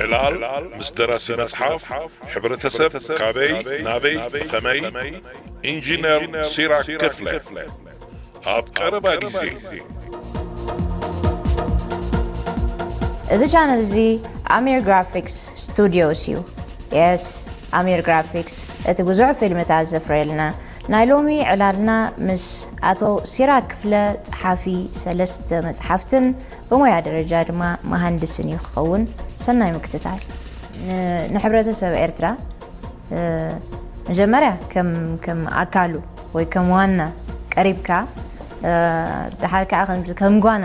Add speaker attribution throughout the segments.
Speaker 1: ዕላል ምስ ደራሲ መጽሓፍ ሕብረተሰብ ካበይ ናበይ ብኸመይ ኢንጂነር ሲራክ ክፍለ ኣብ ቀረባ ግዜ።
Speaker 2: እዚ ቻነል እዚ ኣሚር ግራፊክስ ስቱድዮስ እዩ። የስ ኣሚር ግራፊክስ እቲ ብዙሕ ፊልምታት ዘፍርየልና። ናይ ሎሚ ዕላልና ምስ ኣቶ ሲራክ ክፍለ ጸሓፊ ሰለስተ መጽሓፍትን ብሞያ ደረጃ ድማ መሃንድስን እዩ ክኸውን። ሰናይ ምክትታል። ንሕብረተሰብ ኤርትራ መጀመርያ ከም ኣካሉ ወይ ከም ዋና ቀሪብካ ድሓር ከዓ ከምዚ ከም ጓና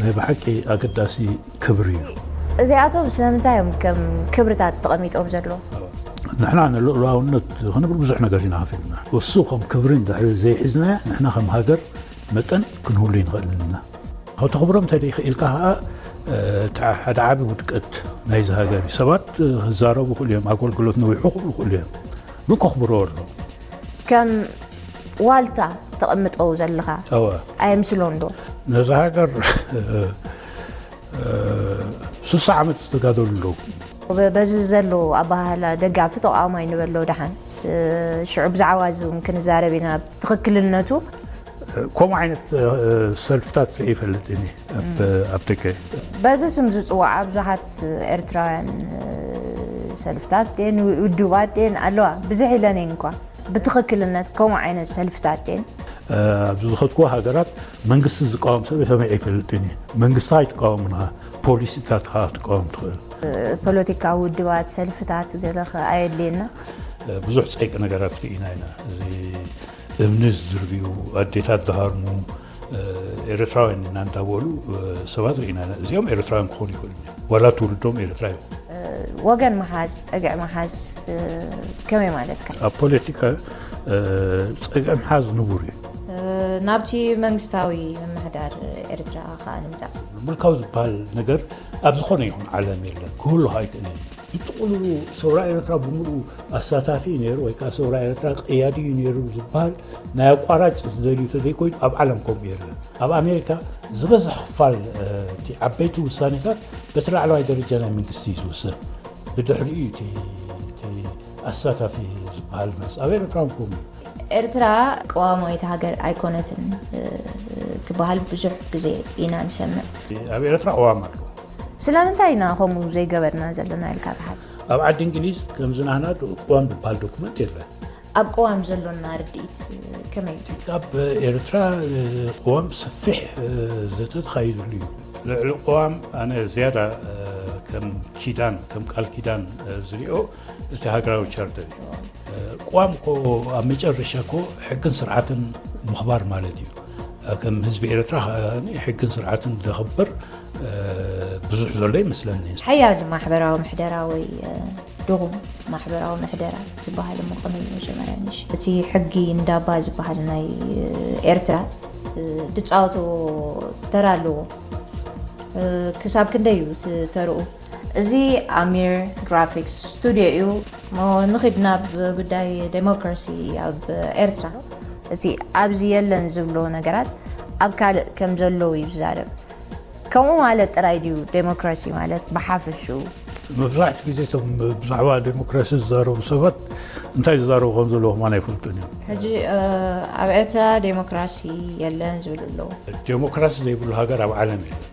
Speaker 3: ናይ ብሓቂ ኣገዳሲ ክብሪ እዩ። እዚኣቶም
Speaker 2: ስለምንታይ እዮም ከም ክብርታት ተቐሚጦም ዘለዉ? ንሕና
Speaker 3: ንልኡላውነት ክንብል ብዙሕ ነገር ኢና ከፊልና። እሱ ከም ክብሪ እንድሕሪ ዘይሒዝናዮ ንሕና ከም ሃገር መጠን ክንህሉ ኣይንኽእልን ኢና። ከተኽብሮም እንተዘይክኢልካ ከዓ እቲ ሓደ ዓቢ ውድቀት ናይዚ ሃገር እዩ። ሰባት ክዛረቡ ይኽእሉ እዮም፣ ኣገልግሎት ነዊሑ ክብሉ ይኽእሉ እዮም፣ ግን ከኽብርዎ ኣለዎም። ከም
Speaker 2: ዋልታ ተቐምጠው ዘለኻ ኣየምስሎን ዶ? ነዛ ሃገር
Speaker 3: ስሳ ዓመት ዝተጋደሉ ኣለዉ። በዚ ዘሎ
Speaker 2: ኣባሃህላ ደጋፊ ተቃዋማይ ንበሎ ደሓን ሽዑ ብዛዕባ እዚ እውን ክንዛረብ ኢና ትኽክልነቱ ከምኡ
Speaker 3: ዓይነት ሰልፍታት ርኢ ይፈልጥ እኒ ኣብ ደገ በዚ ስም
Speaker 2: ዝፅዋዓ ብዙሓት ኤርትራውያን ሰልፍታት የን ውድባት የን ኣለዋ ብዝሕ ኢለን የን እኳ ብትኽክልነት ከምኡ ዓይነት ሰልፍታት የን ኣብ ዝኸድኩዎ
Speaker 3: ሃገራት መንግስቲ ዝቃወም ሰብ ሰሚዐ ኣይፈልጥን እዩ መንግስቲ ኣይትቃወምን ኢኻ ፖሊሲታትካ ክትቃወም ትኽእል ፖለቲካዊ
Speaker 2: ውድባት ሰልፍታት ገለ ከ ኣየድልየና ብዙሕ ፀይቂ
Speaker 3: ነገራት ርኢና ኢና እዚ እምኒ ዝድርብዩ ኣዴታት ዝሃርሙ ኤርትራውያን ኢና እንዳበሉ ሰባት ርኢና ኢና። እዚኦም ኤርትራውያን ክኾኑ ይኽእሉ እዮም። ዋላ ትውልዶም ኤርትራ እዩ። ወገን
Speaker 2: ምሓዝ ፀግዒ ምሓዝ እ፣ ከመይ ማለትካ ኣብ ፖለቲካ
Speaker 3: እ፣ ፀግዒ ምሓዝ ንቡር እዩ። እ፣ ናብቲ
Speaker 2: መንግስታዊ ምምሕዳር ኤርትራ ከዓ ንምፃእ ምልካዊ ዝበሃል
Speaker 3: ነገር ኣብ ዝኾነ ይኹን ዓለም የለን፣ ክህሉ ከዓ ኣይክእልን እዩ። ብጥቕሉሉ ሰውራ ኤረትራ ብምሉኡ ኣሳታፊ እዩ ነይሩ ወይ ከኣ ሰውራ ኤረትራ ቀያዲ እዩ ነይሩ ዝበሃል ናይ ኣቋራጭ ዝደልዩ ተዘይኮይኑ ኣብ ዓለም ከምኡ የለን ኣብ ኣሜሪካ ዝበዝሕ ክፋል እቲ ዓበይቲ ውሳኔታት በቲ ላዕለዋይ ደረጃ ናይ መንግስቲ እዩ ዝውሰን ብድሕሪኡ እዩ እቲ ኣሳታፊ ዝበሃል መልሲ ኣብ ኤረትራ እውን ከምኡ እዩ ኤርትራ
Speaker 2: ቀዋማዊት ሃገር ኣይኮነትን ክበሃል ብዙሕ ግዜ ኢና ንሰምዕ ኣብ ኤረትራ ቀዋም
Speaker 3: ኣሎ ስለምንታይ
Speaker 2: ኢና ከምኡ ዘይገበርና ዘለና ኢልካ ትሓስብ? ኣብ ዓዲ እንግሊዝ
Speaker 3: ከምዚ ናህና ቅዋም ዝበሃል ዶኩመንት የለን። ኣብ ቅዋም
Speaker 2: ዘሎና ርድኢት ከመይ እዩ? ኣብ
Speaker 3: ኤርትራ ቅዋም ሰፊሕ ዘተ ተኻይድሉ እዩ። ልዕሊ ቅዋም ኣነ ዝያዳ ከም ኪዳን ከም ቃል ኪዳን ዝሪኦ እቲ ሃገራዊ ቻርተር እዩ ቅዋም ኮ ኣብ መጨረሻ ኮ ሕግን ስርዓትን ምኽባር ማለት እዩ ከም ህዝቢ ኤርትራ ሕግን ስርዓትን ዘኽብር ብዙሕ ዘሎ ይመስለኒ ሓያል ማሕበራዊ
Speaker 2: ምሕደራ ወይ ድኹም ማሕበራዊ ምሕደራ ዝበሃል እሞ ከመይ እዩ መጀመርያ ንሽ እቲ ሕጊ እንዳባ ዝበሃል ናይ ኤርትራ ድፃወትዎ ተራ ኣለዎ ክሳብ ክንደይ እዩ ተርኡ እዚ ኣሚር ግራፊክስ ስቱድዮ እዩ እሞ ንኺድ ናብ ጉዳይ ደሞክራሲ ኣብ ኤርትራ። እቲ ኣብዚ የለን ዝብሎ ነገራት ኣብ ካልእ ከም ዘሎ እዩ ዝዛረብ። ከምኡ ማለት ጥራይ ድዩ ደሞክራሲ ማለት ብሓፈሽኡ? መብዛሕትኡ ግዜ
Speaker 3: እቶም ብዛዕባ ደሞክራሲ ዝዛረቡ ሰባት እንታይ ዝዛረቡ ከም ዘለዉ ከማን ኣይፈልጡን እዮም። ሕጂ
Speaker 2: ኣብ ኤርትራ ደሞክራሲ የለን ዝብሉ ኣለዉ። ደሞክራሲ ዘይብሉ
Speaker 3: ሃገር ኣብ ዓለም የለን።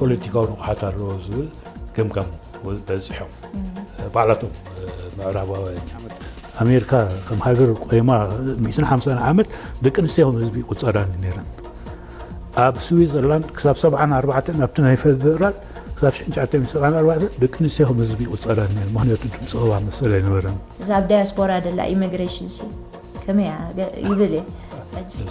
Speaker 3: ፖለቲካዊ ንቕሓት ኣለዎ ዝብል ገምጋም በፂሖም ባዕላቶም ምዕራባውያን ኣሜሪካ ከም ሃገር ቆይማ 150 ዓመት ደቂ ኣንስትዮ ከም ህዝቢ ይቁፀራ ነይረን ኣብ ስዊዘርላንድ ክሳብ 74 ኣብቲ ናይ ፌደራል ክሳብ 1974 ደቂ ኣንስትዮ ከም ህዝቢ ይቁፀራ ነይረን ምክንያቱ ድምፂ ቅባ መሰል ኣይነበረን እዛ ኣብ ዳያስፖራ
Speaker 2: ደላ ኢሚግሬሽን ሲ ከመይ ይብል እየ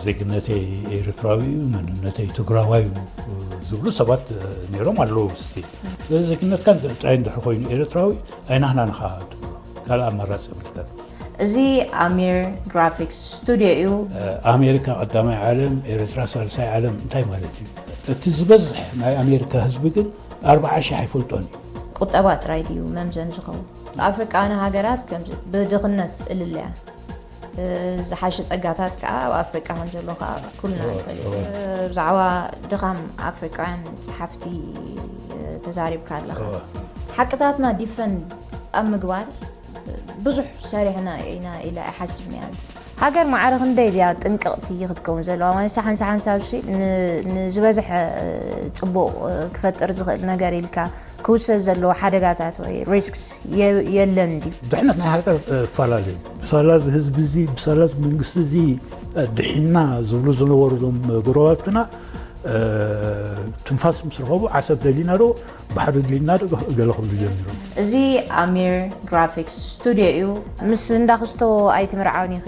Speaker 2: ዜግነተይ
Speaker 3: ኤርትራዊ እዩ መንነተይ ትግራዋይ እዩ ዝብሉ ሰባት ነይሮም ኣለዉ ስቲ ስለዚ ዜግነትካ ጥራይ እንድሕር ኮይኑ ኤርትራዊ ኣይናህናን ኢኻ ትብሎ ካልእ ኣማራፂ የብልካን እዚ
Speaker 2: ኣሚር ግራፊክስ ስቱድዮ እዩ ኣሜሪካ
Speaker 3: ቀዳማይ ዓለም ኤርትራ ሳልሳይ ዓለም እንታይ ማለት እዩ እቲ ዝበዝሕ ናይ ኣሜሪካ ህዝቢ ግን ኣርባዓ ሽሕ ኣይፈልጦን እዩ ቁጠባ ጥራይ
Speaker 2: ድዩ መምዘን ዝኸውን ኣፍሪቃውያን ሃገራት ከምዚ ብድኽነት እልልያ ዝሓሸ ጸጋታት ከዓ ኣብ ኣፍሪቃ ከም ዘሎ ከዓ ኩልና ንፈልጥ ብዛዕባ ድኻም ኣፍሪቃውያን ጸሓፍቲ ተዛሪብካ ኣለኻ ሓቅታትና ዲፈን ኣብ ምግባር ብዙሕ ሰሪሕና ኢና ኢለ ኣይሓስብ ነያ ሃገር ማዕረ ክንደይ ድያ ጥንቅቕቲ ክትከውን ዘለዋ ማለት ሳሓን ሳሓን ሳብሲ ንዝበዝሐ ፅቡቕ ክፈጥር ዝኽእል ነገር ኢልካ ክውሰድ ዘለዎ ሓደጋታት ወይ risks የለን ድዩ? ድሕነት ናይ ሃገር
Speaker 3: ክፈላለ እዩ። ብሳላ እዚ ህዝቢ እዚ ብሳላ እዚ መንግስቲ እዚ ድሒንና ዝብሉ ዝነበሩ እዞም ጎረባብትና ትንፋስ ምስ ረኸቡ ዓሰብ ደሊና ዶ ባሕሪ ደሊና ዶ ገለ ክብሉ ጀሚሮም። እዚ ኣሚር
Speaker 2: ግራፊክስ ስቱድዮ እዩ። ምስ እንዳ ክስቶ ኣይትምርዓውኒ ኢኺ።